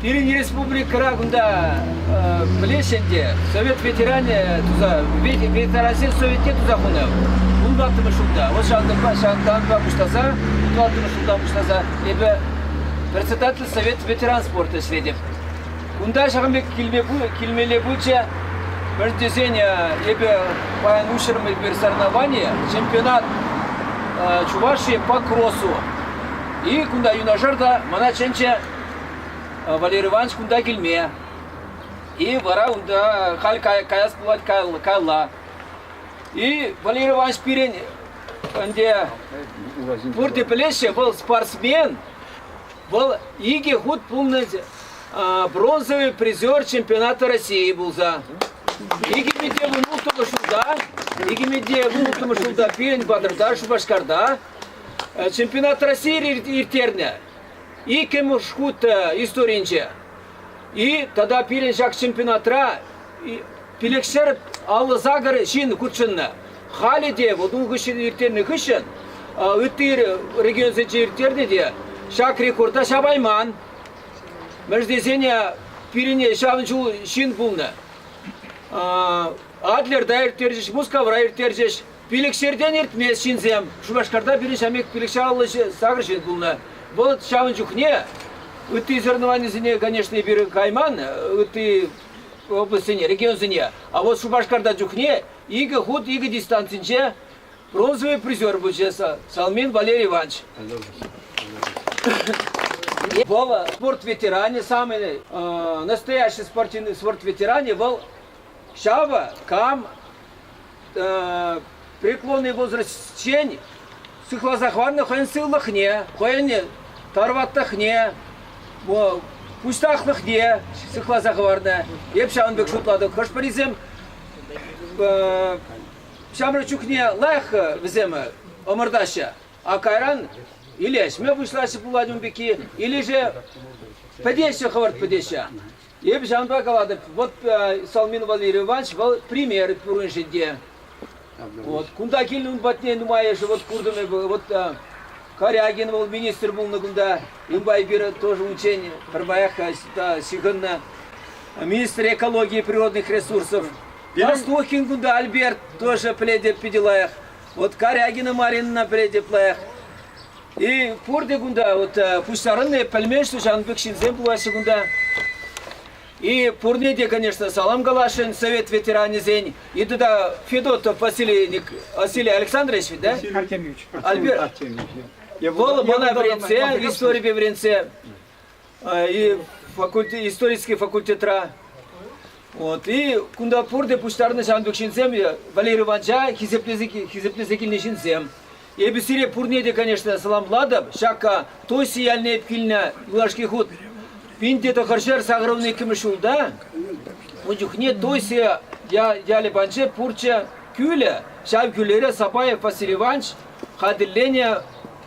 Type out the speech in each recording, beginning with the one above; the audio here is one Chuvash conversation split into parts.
Пирӗн республикӑра кунта пӗлес ӗнтӗ, совет ветеранӗ туса, ветерансен советне туса хунӑ. Ултаттӑмӗш ҫулта, вӑл ҫанталӑкпа пуҫласа, ултаттӑмӗш ҫулта пуҫласа эпӗ председатель совет ветеран спорта ӗҫлетӗп. Кунта ҫакӑн пек килмелле пулчӗ, мӗн тесен эпӗ паян уҫрӑм эпир соревнование, чемпионат Чувашии по кроссу. И кунта юнашар та мана чӗнчӗ Валерий Иванович кунта килме. И вара унта халь каяс пулать каялла. И Валерий Иванович пирӗн ӗнтӗ пурте пӗлеҫҫӗ, вӑл спортсмен, вӑл икӗ хут пулнӑ бронзовый призер чемпионата России пулса. 2019 ҫулта 2019 ҫулта пирӗн Батырда Шупашкарта чемпионат России ирттернӗ. Иккӗмӗш хут историнче и тата пирӗн ҫак чемпионатра пилӗкҫӗр аллӑ сакӑр ҫын хутшӑннӑ. Халӗ те вот ун хыҫҫӑн ирттернӗ хыҫҫӑн ытти регионсенче ирттернӗ те ҫак рекорда ҫапайман. Мӗш тесен пирӗне ҫавӑн ҫул ҫын пулнӑ. Адлерта ирттерчӗҫ, Мускавра ирттерчӗҫ. Пилӗкҫӗртен иртмест ҫынсем. Шупашкарта пирӗн ҫамрӑк пек пилӗкҫӗр аллӑ сакӑр ҫын пулнӑ. Вӑл ҫавӑн чухне ытти соревнованисене, конечно, пирӗн кайман, ытти облаҫсене, регионсене. А вот Шупашкарта чухне икӗ хут икӗ дистанцинче бронзовый призер пулчӗ Салмин Валерий Иванович. Вова спорт ветеране, самый настоящий спортивный спорт ветеране был Щава Кам преклонный возрастчен сыхласа хӑварнӑ хӑйӗн сывлӑхне, хӑйӗн тарваттӑхне, пуҫтахлӑхне сыхласа хӑварнӑ. Эп ҫавӑн пек шутлатӑп. Хӑш-пӗрисем ҫамрӑк чухне лайӑх вӗсем ӑмӑртаҫҫӗ, а кайран илешме пуҫлаҫҫӗ пулать ун пекки. Илеше пӗтеҫҫӗ хӑвӑрт пӗтеҫҫӗ. Эпӗ ҫавӑнпа калатӑп, вот Салмин Валерий Иванович вӑл пример пуриншӗн те. Вот кунта килнӗ ун патне нумайӑшӗ вот куртӑм эпӗ. Вот Корягин вӑл министр пулнӑ кунта. Унпа эпир тоже унччен пӗрмаях ҫыхӑннӑ. Министр экологии природных ресурсов. Берестухин кунта Альберт тоже пӗлетӗп питӗ лайӑх. Вот Корягина Маринӑна пӗлетӗп лайӑх. И пурте кунта, вот э, пуҫтарӑнни пӗлмен, что ҫавӑн пек ҫынсем пулаҫҫӗ кунта. И пурне те, конечно, салам каласшӑн совет ветеранӗсен. И туда Федотов Василий, Василий Александрович, да? Василий Артемьевич. Альберт. Артемьевич. Вӑл мана вӗрентсе, историпе вӗрентсе, И факультет, исторический факультетра. Вот. И кунта пурте пуҫтарнӑ ҫантук ҫынсем, Валерий Иванча хисеплесе, хисеплесе килнӗ ҫынсем. Эпӗ сире пурне те, конечно, саламлатӑп. Ҫакка Тосси ялне килнӗ юлашки хут пинте тӑхӑрҫӗр сакӑрӑмлӑ иккӗмӗш ҫулта ун чухне Тоси ялӗ панче пурччӗ кӳлӗ. Ҫав кӳлере Сапаев Василий Иванович хатӗрленӗ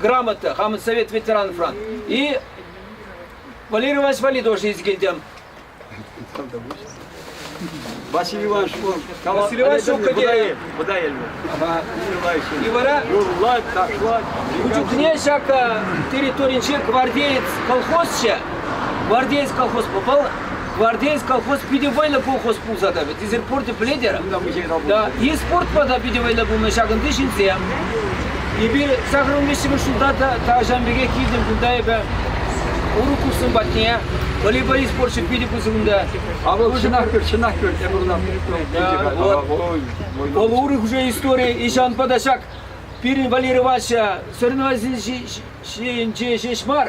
грамота, хамӑн совет ветеранфран. И Валерий Иванович Вали тоже есть килтем. Василий Иванович, он Василий Иванович Шукаде. Бодайельме. И вара утюгне всяко территориянче гвардеец колхозча, гвардеец колхоз попал, Гвардеец колхоз питӗ вӑйлӑ колхоз пулса тӑрӗ. Ты сих пор ты плетер. Да, и спортпа та питӗ вӑйлӑ пулнӑ ҫакӑнти ҫынсем. Эпир сахӑр умлешчӗмӗш ҫулта та тахҫан пекех килтӗм кунта эпӗ урӑх курсым патне. Волейбол спорчӗ питӗ пысӑк унта. А вӑл чӑнах көр, чӑнах көр, тепӗр унта Вӑл урӑх уже история. И ҫавӑнпа та ҫак пирӗн Валерий Ивановича соревновательсенче ҫеҫ мар,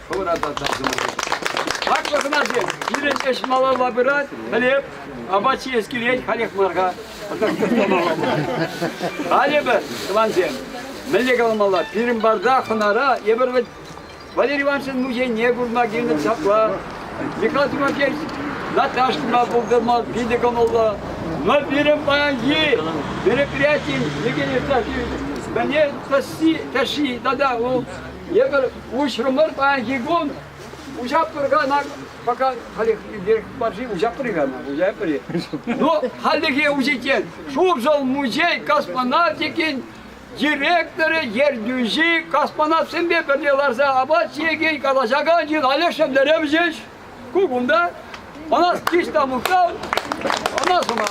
хӑвӑра та тасӑмӑр тытӑпӑр. Хаклӑ хӑнасем, сирӗн ӗҫ малалла пырать, пӗлеп. Апат ҫиес килет халех мар-ха. Халӗ пӗр, тӑвансем, мӗнле каламалла, пирӗн барда хӑнара эпир вӗт Валерий Ивановичӑн музейне курма килнӗ ҫапла. Михаил Тимофеевич Наташкӑна пултарма питӗ кӑмӑллӑ. Но пирӗн паянхи мероприятин Евгений Евтафьевич мӗне тӑшши тата ул Эпир уҫрӑмӑр паянхи кун уҫатпӑр кана пока халех баржи уҫатпӑр кана уҫатпӑр но хальлӗхе уҫиччен Шуршӑл музей космонавтикин директорӗ ертӳҫи космонавтсемпе пӗрле ларса апат ҫиекен калаҫакан ҫын Олег Шендеревич Ку кунта ӑнас киш та мухтав, ӑна сума.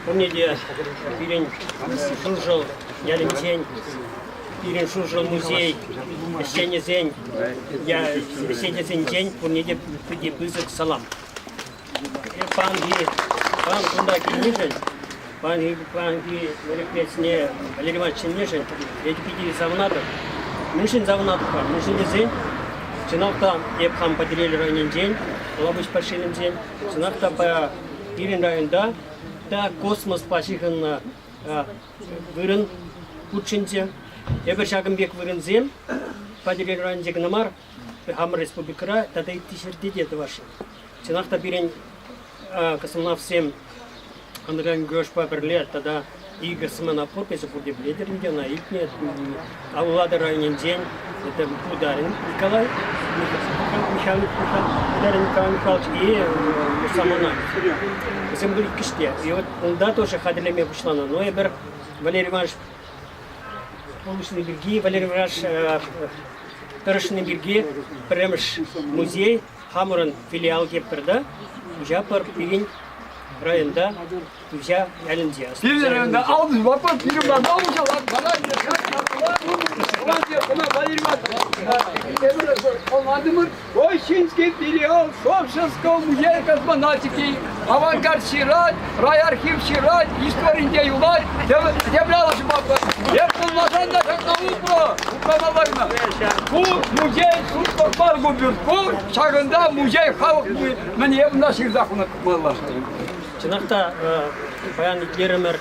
Пурне те пирӗн Шуршӑл ялӗнчен, пирӗн Шуршӑл музей ӗҫченӗсен, сӗтесенчен пурне те питӗ пысӑк салам. Паянхи пан кунта килнишӗн, паянхи, паянхи мероприятине Валерий Иванович чӗннишӗн эпӗ питӗ савӑнатӑп. Мӗншӗн савӑнатӑп-ха? Мӗншӗн тесен чӑнах та эп хам Патӑрьел районӗнчен, Калапуҫ пашьелӗнчен, чӑнах та пая пирӗн районта та космоспа ҫыхӑннӑ вырӑн хутшӑнчӗ. Эпир ҫакӑн пек вырӑнсем Патӑрьел районӗнче кӑна мар, хамӑр республикӑра тата ытти ҫӗрте те тӑвасшӑн. Чӑнах та пирӗн космонавтсем андерграунд-геошпа пӗрле тата икӗ смена подпиҫӗ пурте пӗлетӗр ӗнтӗ ӑна илтнӗ. Улатӑр районӗнчен это Бударин Николай, Михаил Николай Михайлович и самана. Вӗсем были киште. И вот унта тоже хатӗрлеме пуҫланӑ. Но эпир Валерий Иванович Полушный пирки, Валерий Иванович тӑрӑшни пирки пӗрремӗш музей Хамӑрӑн филиал Кепперта, Туҫапар пирӗн районта, Туҫа ялӗнче. Пирӗн алды вопрос ирім бар, мал ушалат, бала Очень филиал Шовшинского музея космонавтики, авангард Сират, Райархив ҫырать, историнче юлать, землялӑш мӑкӑр. Эп пулмасан та ҫакна упрӑ, упрамалла кӑна. Ку музей шутпӑрпар купюр. Ку ҫакӑнта музей халӑх мӗне унта ҫырса хунӑмалла. Чӑнах та паян итлерӗмӗр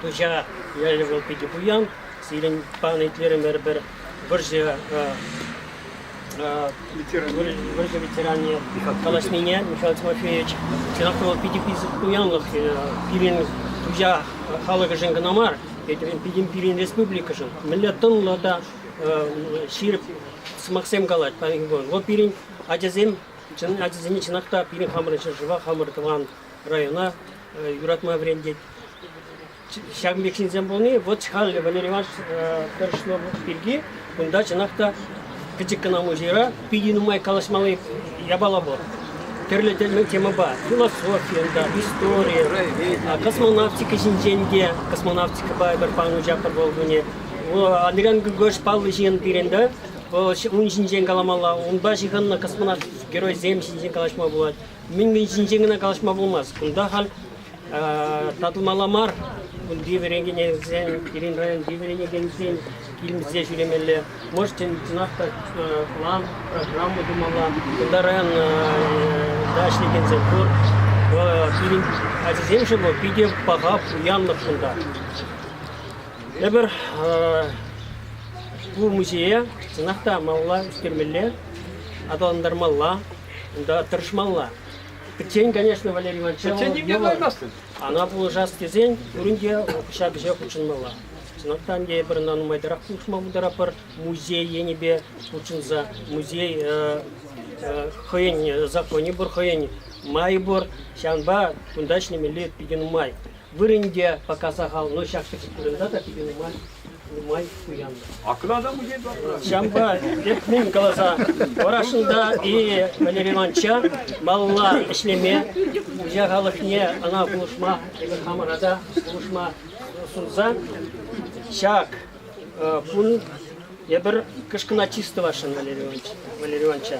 Туҫа ялӗ вӑл питӗ пуян. Сирӗн панӑ итлерӗмӗр пӗр вӑрҫӑ ветеране, Надежда ветеране, калаҫнине Михаил Тимофеевич, чӑнах та вӑл питӗ пысӑк пирӗн друзья халӑхӗшӗн кӑна мар, пирӗн, пирӗн республикӑшӑн мӗнле тӑнлӑ та ҫирӗп сӑмахсем калать вӑл пирӗн ачасем ачасене чӑнах та пирӗн хамӑрӑн ҫӗршыва хамӑр тӑван района юратма вӗрентет Ҫак пек ҫынсем пулни вӑт халӗ Валерий Иванович тӑрӑшман пирки кунта чӑнах та пӗчӗк кӑна музейра питӗ нумай калаҫмалли япала пур. Тӗрлӗ темӑпа философи унта, истори, космонавтика ҫинчен те, космонавтикӑпа пӗр панучаптор вӑл кунӗ. Андриян Григорьевич паллӑ ҫын пирӗн та. Вӑл ун ҫинчен каламалла, унпа ҫыхӑннӑ космонавт геройсем ҫинчен калаҫма пулать. Мӗн-мӗн ҫинчен кӑна калаҫма пулмасть. Кунта халь татӑлмалла мар. Кунти вӗренекенсен, пирӗн районти вӗренекенсен килсе ҫӳремелле. Можете чӑнах та план, программа тумалла. Кунта районта ӗҫлекенсем пур. Пирӗн ачасемшӗн вӑл питӗ паха, пуянлӑх кунта. Эпир ку музее чӑнах та малалла ӳстермелле, аталантармалла, унта тӑрӑшмалла. Пӗччен, конечно, Валерий Иванович. Пӗччен нимне кӑлармастӑн. Ана пулӑшас тесен пурин те ҫак ӗҫе хутшӑнмалла. Чӑнах та эпир ӑна нумайтарах хушма пултаратпӑр. Музей енӗпе хутшӑнса музей хӑйӗн законӗ пур, хӑйӗн майӗ пур. Ҫавӑнпа кунта ӗҫлемелли питӗ нумай. Вырӑн те пока сахал, но ҫак пӗчӗк вырӑнта та питӗ нумай, нумай пуянлӑх. Аклада музей Ҫавӑнпа мӗн каласа Варашӑлта и Валерий Ивановича малалла ӗҫлеме, хуҫа халӑхне ӑна пулӑшма, эпир хамӑра та пулӑшма сунса ҫак кун эпир кӑшкӑна чыс тӑвасшӑн Валерий Ивановича. Валерий Ивановича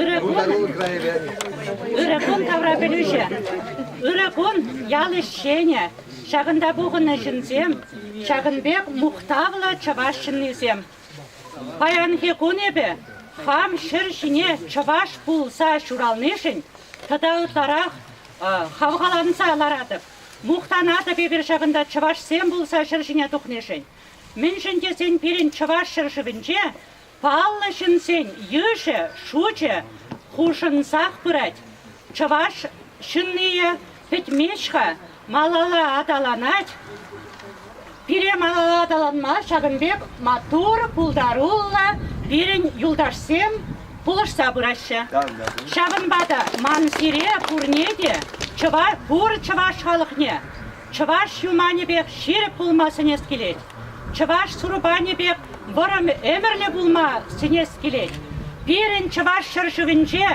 Ырӑ кун, ырӑ кун тавра пӗлӳҫӗ. Ырӑ кун ял ӗҫченӗ, ҫакӑнта пухӑннӑ ҫынсем, ҫакӑн пек мухтавлӑ чӑваш ҫыннисем. Паянхи кун эпӗ хам ҫӗр ҫине чӑваш пулса ҫуралнишӗн тата ытларах хавхаланса ларатӑп, мухтанатӑп эпир ҫакӑнта чӑвашсем пулса ҫӗр ҫине тухнишӗн. Мӗншӗн тесен пирӗн чӑваш ҫӗршывӗнче Паллӑ ҫынсен йышӗ, шучӗ хушӑнсах пырать. Чӑваш ҫыннийӗ пӗтмест-ха, малалла аталанать. Пире малалла аталанма ҫакӑн пек маттур, пултаруллӑ пирӗн юлташсем пулӑшса пыраҫҫӗ. Ҫавӑнпа та ман сире пурне те, пур чӑваш халӑхне Чӑваш юманӗпех ҫирӗп пулма сӗнес килет. Чӑваш сурпанӗ пек вӑрӑм ӗмӗрлӗ пулма сӗнес килет. Пирӗн чӑваш ҫӗршывӗнче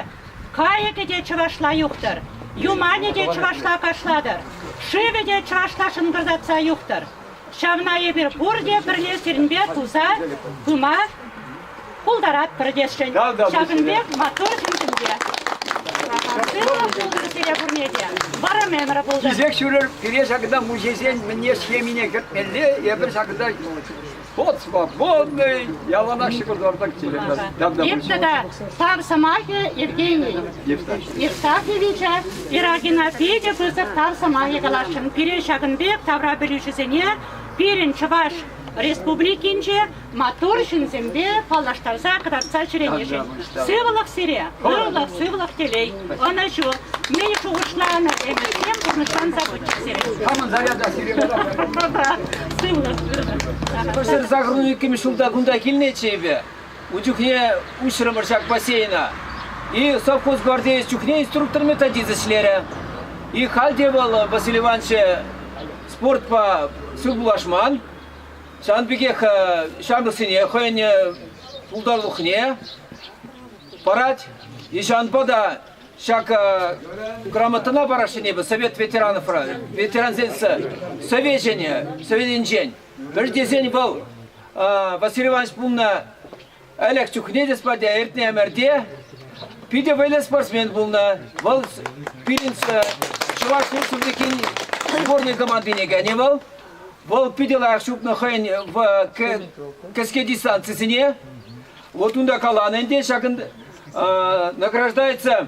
кайӑкӗ те чӑвашла юхтӑр, юманӗ те чӑвашла кашлатӑр, шывӗ те чӑвашла шӑнкӑртатса юхтӑр. Ҫавна эпир пурте пӗрле сирӗнпе туса пыма пултаратпӑр тесшӗн. Ҫакӑн пек маттур ҫыншӑн те. Сывлӑх пултӑр сире пурне те. Вӑрӑм ӗмӗр пултӑр. Кисек ҫӳрер пире ҫакна муҫесен мӗне схемине кӗртмелле, эпир ҫакна вот свободный, яланах ҫӑкӑртартак телефон. Иртнӗ та тав сӑмахӗ Евгений Евстафьевича Ирагина питӗ пысӑк тав сӑмахӗ каласшӑн. Пире ҫакӑн пек тавра пӗлӳҫӗсене пирӗн Чӑваш Республикинче Маттур ҫынсемпе паллаштарса кӑтартса ҫӳренӗшӗн. Сывлӑх сире, ырлӑх, сывлӑх телей, ӑнӑҫу. Мӗн шухӑшланӑ ӗмӗрсем пурнӑҫланса пычӗ сирӗн? Хамӑн заряда сире Сывлӑх. Пӗр загрун иккӗмӗш ҫулта кунта килнӗччӗ эпӗ. Ун чухне уҫрӑмӑр ҫак бассейна. И совхоз гвардеец чухне инструктор-методист ӗҫлерӗ. И халь те вӑл, Василий Ивановича, спортпа сывпуллашман. Сан пекех ҫамрӑксене хӑйӗн пултарулӑхне парать. Ҫавӑнпа та ҫак грамотӑна параҫҫӗ эпӗ Совет ветеранов ветерансен совечӗне, Советӗнчен. Пӗр тесен вӑл Василий Иванович пулнӑ Ӗлӗк чухне те спорта иртнӗ ӗмӗрте питӗ вӑйлӑ спортсмен пулнӑ. Вӑл пирӗн чӑваш республикин сборнӑй командине кӗнӗ вӑл. Вӑл питӗ лайӑх чупнӑ хӑйӗн кӗске дистанцисене. Вот унта каланӑ ӗнтӗ, ҫакӑн награждается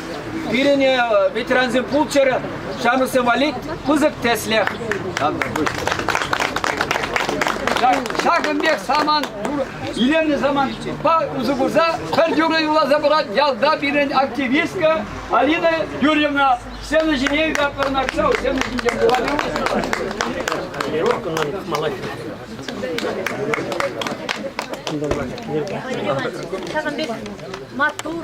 Пирӗне ветерансем пулччӑр, ҫамрӑксем валли пысӑк тӗслӗх. Ҫакӑн пек самант, илемлӗ самантпа усӑ курса пӗр юрӑ юрласа пырать ялта пирӗн активистка Алина Юрьевна. Сцена ҫине ятпӑрна кӑсал, сцена ҫинче Ҫавӑн пек маттур,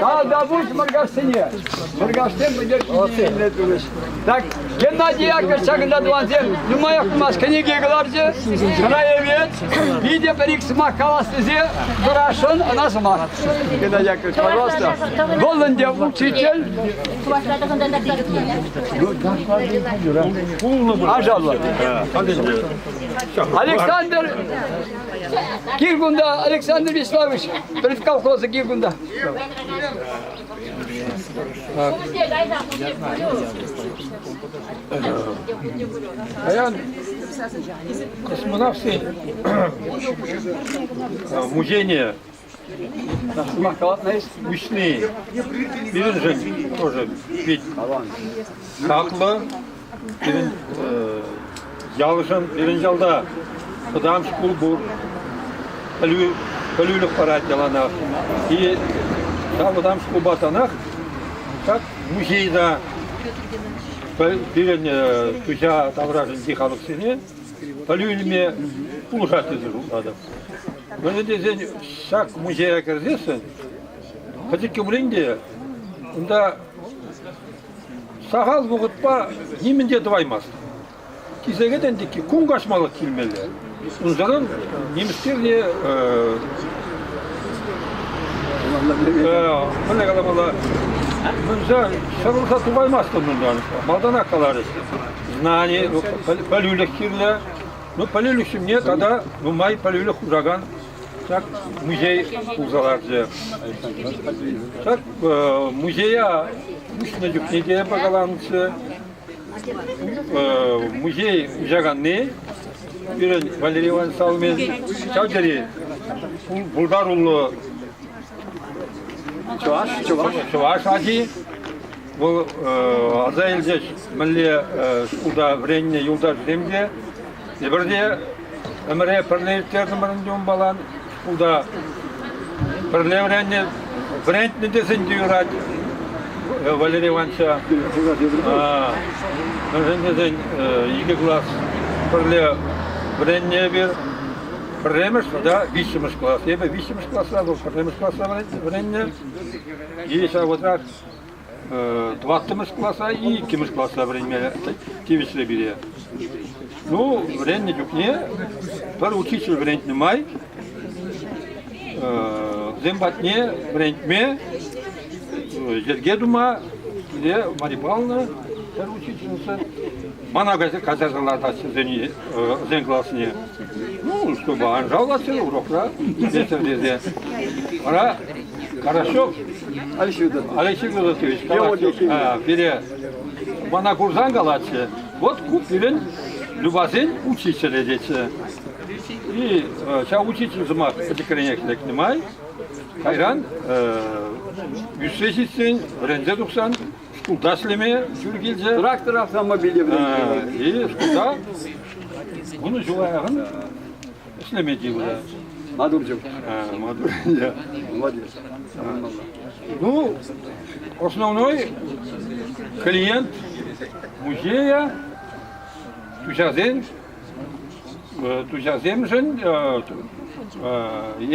Талдабуш Мӑркашсене. Мӑркашсем пӗтерчине илме турӗҫ. Так, Геннадий Яковлевич ҫакӑнта тӑвансем нумаях пымасть кӗнеке кӑларчӗ. Ӑна evet, питӗ пӗр-ик сӑмах калас тесе дурашӑн ӑна сӑмах. Геннадий Яковлевич, пожалуйста. Вӑл ӗнтӗ учитель, Чӑвашла тӑхӑнтарса Александр Киргунда Александр Вячеславович, перед колхоза Киргунда. Аян космонавты музейне Сӑмах калатна эс вишни. Пирӗншӗн тоже пит хаклӑ. Пирӗн ялшӑн, пирӗн ялта вӑтам шкул пур. Пӗлӳ, пӗлӳлӗх парать яланах. И ҫав вӑтам шкулпа танах как музейда пирӗн туҫа таврашӗнчи халӑхсене Пӗлӳ илме пулӑшать тесе шутлатӑп. Мӗншӗн тесен ҫак музея кӗрсессӗн пӗчӗккӗ пулин те унта сахал вӑхӑтпа нимӗн те тӑваймасть. Кисекетен текки кун каҫмалӑх килмелле. Унсӑрӑн нимӗскер те мӗнле каламалла, мунса ҫӑрӑлса тухаймастӑн унтан, малтанах каларӗҫ. знани, ну, пӗлӳлӗх кирлӗ. Ну, пӗлӳлӗх ҫумне тата нумай пӗлӳлӗх хушакан ҫак музей хурса ларчӗ. Ҫак э, музея уҫнӑ чухне те пакаланчӗ. Э, музей уҫаканни пирӗн Валерий Иванович Салмин ҫав тери пултаруллӑ чӑваш, чӑваш, чӑваш аки. Вӑл аса илчӗҫ мӗнле шкулта вӗреннӗ юлташсем те. Эпир те ӗмӗре пӗрле ирттертӗмӗр ӗнтӗ унпалан. Шкулта пӗрле вӗреннӗ, вӗрентнӗ тесен те юрать Валерий Ивановича. Мӗншӗн тесен икӗ класс пӗрле вӗреннӗ эпир. Пӗрремӗш тата виҫҫӗмӗш класс. Эпӗ виҫҫӗмӗш класра вӑл пӗрремӗш класра вӗреннӗ. И ҫав вӑтах тӑваттӑмӗш класа, иккӗмӗш класра вӗренме тивӗҫрӗ пире. Ну, вӗреннӗ чухне пӗр учитель вӗрентнӗ май вӗсем патне вӗрентме, йӗрке тума пире Марья Павловна пӗр учительница Мана кайса качаса лартассисене, вӗсен классне. Ну, чтобы ан жаловаться урокра, детям тесе. Вара Карашов Александр Александрович калатчӗ, пире мана курсан калатчӗ, вот купилен любасен учителя дечи. И ҫав учитель сӑмах пӗчӗкренех лекнӗ май, кайран 108-сен вӗренсе тухсан Шкулта ӗҫлеме ҫул килчӗ. Трактор автомобиле вӗренсе. Шкулта вунӑ ҫул аяган ӗҫлеме тиврӗ. Мадурчук. Мадур, молодец. Ну, основной клиент музея тусасен Туҫасемшӗн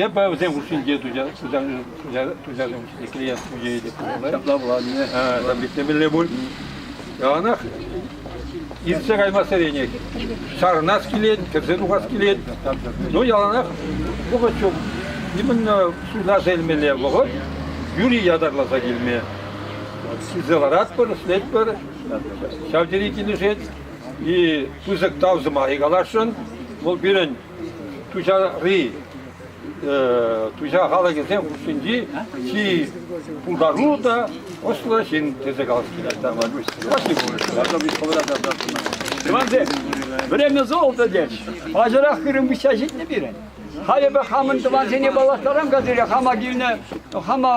эпӗ вӗсем хушшинче туҫасем хушшинче клиент ҫӳҫе те ҫапла пулать. Ҫитмелле пуль. Яланах иртсе кайма сӗренех. Чарӑнас килет, кӗрсе тухас килет. Ну, яланах вӑхӑт ҫук. Именно суйласа илмелле вӑхӑт. Юрий ятарласа килме. Килсе ларатпӑр, ӗҫлетпӗр. Ҫав тери килӗшет. И пысӑк тав сӑмахӗ каласшӑн. Вӑл пирӗн Туҫари Туҫа халӑхӗсен хушшинчи чи пултаруллӑ та ӑслӑ ҫын тесе калас килет. Тӑвансем, время золото здесь. Аҫӑрах хырӑм выҫса ҫитнӗ пирӗн. Халӗпе хамӑн тӑвансене паллаштарам-ка сире хама килнӗ, хама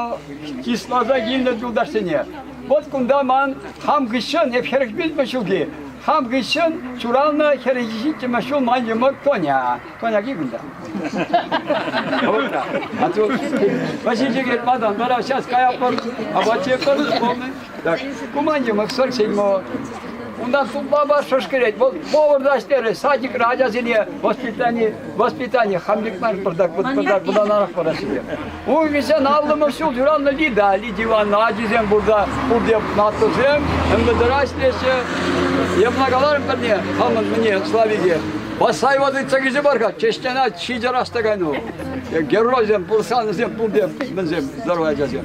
чысласа килнӗ юлташсене. Вот кунта ман хам хыҫҫӑн, эп хӗрӗх вилнӗ ҫулхи, хам хыҫҫӑн ҫуралнӑ хӗрӗ ҫиччӗмӗш ҫул ман йӑмӑк Коня. Коняки кунта. А тут Васильчик Матан, вара сейчас каятпӑр, апат ҫыппӑр, Так, Куманьӑмӑк сӑрчӗн вӑл. Унтан сумлама шӑшкӑрет. Вӑл поварта ӗҫлерӗ, садикра ачасене воспитани, воспитани хамликман пӑртак пӑртак пытанарах параҫҫӗ. Ун вӗсен аллӑмӑш ҫул ҫураннӑ Лида, Лидия Ивановна ачисем пурта, пурте наттусем, МВДра ӗҫлеҫҫӗ. Я благодарен пӗрне, хамӑн мне, Славике. Басай воды тӗкӗчӗ бар-ха, чештена ҫитӗ растакан вӑл. Геройсем, пурсанӑсем пурте мӗнсем, здоровый ачасем.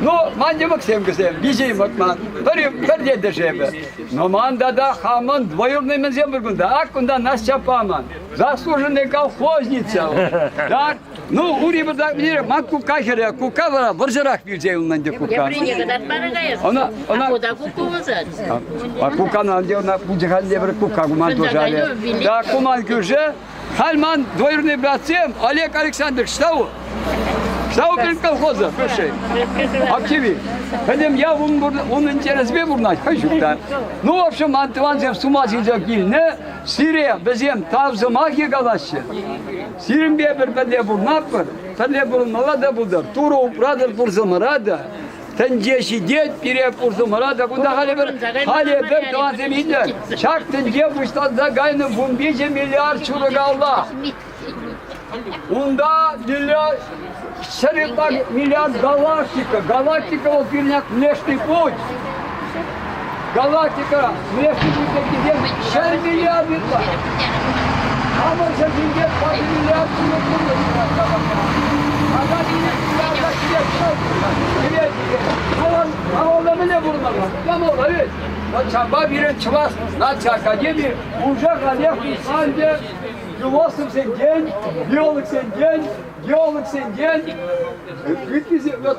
Ну, ман йӑмӑксем кӗсем, виҫӗ йӑмӑк ман, пӗр пӗр ентешемӗр. Но ман тата хамӑн двоюродный мӗнсем пур кунта. Ак кунта Настя паман. Заслуженный колхозница. Так, ну, ури бардак мире, ман кукка хӗре, кукка вара вӑрҫӑрах вилсе юлнӑ ӗнтӗ кукка. Гаврине катат пара каяс. Она, она... А куда кукку вызад? А куккана ӗнтӗ ӑна пучаханне бер кукка куман тушале. Да, куман кӳрше, Халь ман двоюродный братсем Олег Александрович, Сау, Сау пирӗн колхоза, прошей. Общави. Пӗтӗм ял ун, ун интереспе пурӑнать, хӑй ҫукта. Ну, в общем, ман тӑвансем с ума сисе килнӗ, сире вӗсем тав сӑмахӗ калаҫҫӗ. Сирӗнпе пӗр пӗрле пурӑнатпӑр, пӗрле пурӑнмалла та пултӑр, Турӑ упратӑр пурсӑмӑра та, Тӗнче ҫитет, пире пурсӑмӑра та кунта халӗ пӗр, халӗ пӗр тӑвансем илнӗ. Ҫак тӗнче пуҫланса кайнӑ вун виҫӗ миллиард ҫурӑкалла. Унта миллиард, ҫӗр ытла миллиард галактика. Галактика вӑл пирӗн внешний путь. Галактика республикинчен ҫӗр миллиардитла. Хамӑр ҫӗршинче паҫ миллиард ҫыннӑн пурнӑҫӗ пӑхса Ака ҫине миллиарда ҫиес ҫӑл пире Вӑл малалла мӗне пурӑнмалла? Кӑмӑллӑ ведь. Вот ҫапа пирӗн Чӑваш наци академи уже ранех писанде философсенчен, биологсенчен, геологсенчен, вот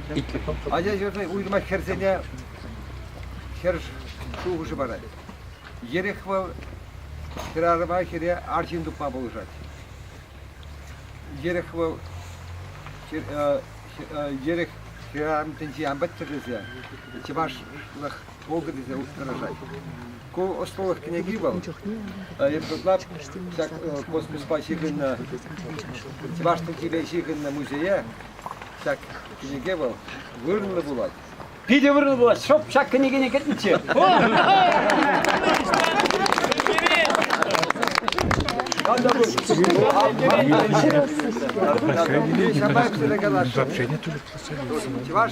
Ача ҫуртне уйрӑма хӗрсене хӗр шухӑшӗ парать. Ерех вӑл хӗрарӑма хӗре арҫын тупма пулӑшать. Ерех вӑл ерех хӗрарӑм тӗнчи ан пӗттӗр тесе чӑвашлӑх пултӑр тесе тӑрӑшать. Ку ӑслӑлӑх кӗнеки вӑл. Эпир ытла ҫак космоспа ҫыхӑннӑ, чӑваш чӗлхипе ҫыхӑннӑ музее ҫак кӗнеке вӑл вырӑнлӑ пулать. Питӗ вырӑнлӑ пулать. Шӑп ҫак кӗнекене кӗртнӗччӗ. Чӑваш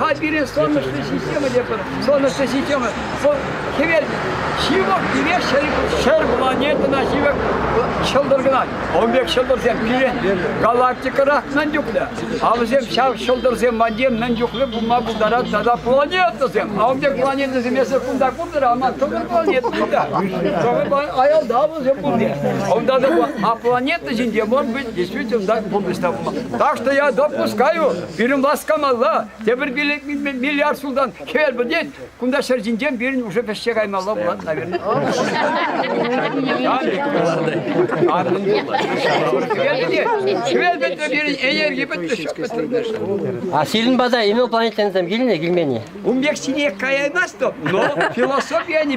А пирӗн солнечная система тепӗр солнечная система вӑл хӗвел ҫывӑх пире ҫӗр, ҫӗр планетӑна ҫывӑх ҫӑлтӑр кӑна. Он пек ҫӑлтӑрсем пирӗн галактикӑра мӗн чухлӗ. А вӗсем ҫав ҫӑлтӑрсем валли мӗн чухлӗ пулма пултарать тата планетӑсем. А он пек планетӑсем эсир кунта куртӑр, аман тӑвӑр планета кунта. Аялта вӗсем пурте. Унта та а планета ҫинче, может быть, действительно так пурнӑҫ та пулман. Так что я допускаю, Пирӗн васкамалла, тепӗр киле миллиард ҫултан хӗвел пӗтет, кунта ҫӗр ҫинчен пирӗн уже вӗҫсе каймалла пулать, наверное. Хӗвел пӗтнӗ пирӗн энерги пӗтмӗш. А сирӗн пата инопланетянсем килнӗ, килмен-и? Ун пек сине каяймастӑп, но философия не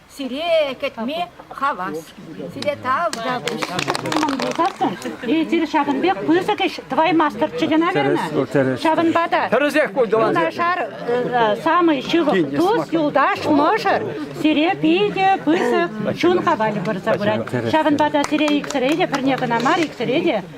Сире кӗтме хавас. Сире тав та пуҫ. Ҫӑмӑл пулсассӑн, эсир ҫакӑн пек пысӑк ӗҫ тӑваймастӑрччӗ кӑна верно? Ҫавӑнпа та тӗрӗсех юнашар э, самый ҫывӑх тус, юлташ, мӑшӑр сире питӗ пысӑк чун хавалӗ пырса пырать. Ҫавӑнпа та сире иксӗре те, пӗрне кӑна мар, иксӗре те